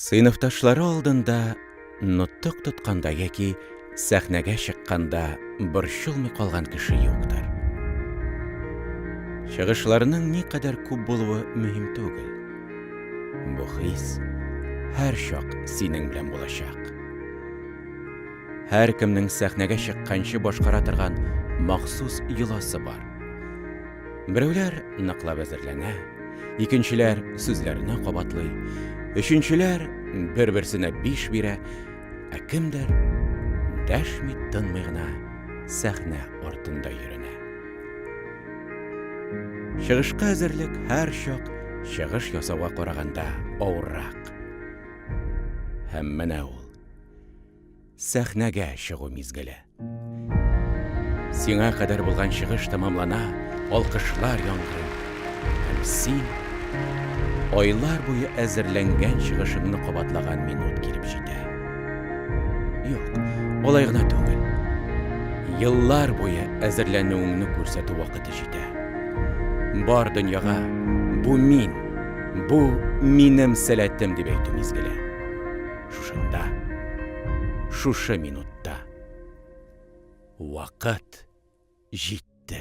Сыйныфташлары алдында нотык тотканда яки сәхнәгә чыкканда борчылмый калган кеше юктыр. Чыгышларның никадәр күп булуы мөһим түгел. Бу хис һәр чак синең белән булачак. Һәркемнең сәхнәгә чыкканчы башкара торган махсус йоласы бар. Берәүләр ныклап әзерләнә, икенчеләр сүзләрне кабатлый, өченчеләр бер-берсенә биш бирә, ә кемдер дәшми-тынмый гына сәхнә артында йөренә. Чыгышка әзерлек һәрчак чыгыш ясауга караганда авыррак. Һәм менә ул. Сәхнәгә чыгу мизгеле. Сиңа кадәр булган чыгыш тәмамлана, алкышлар яңгырый. Һәм син айлар буе әзерләнгән чыгышыңны кабатлаган минут килеп җитә. Юк, алай гына түгел. Еллар буе әзерләнүеңне күрсәтү вакыты җитә. Бар дөньяга бу мин, бу минем сәләтем дип әйтү мизгеле. шушында, шушы минутта. Вакыт җитте.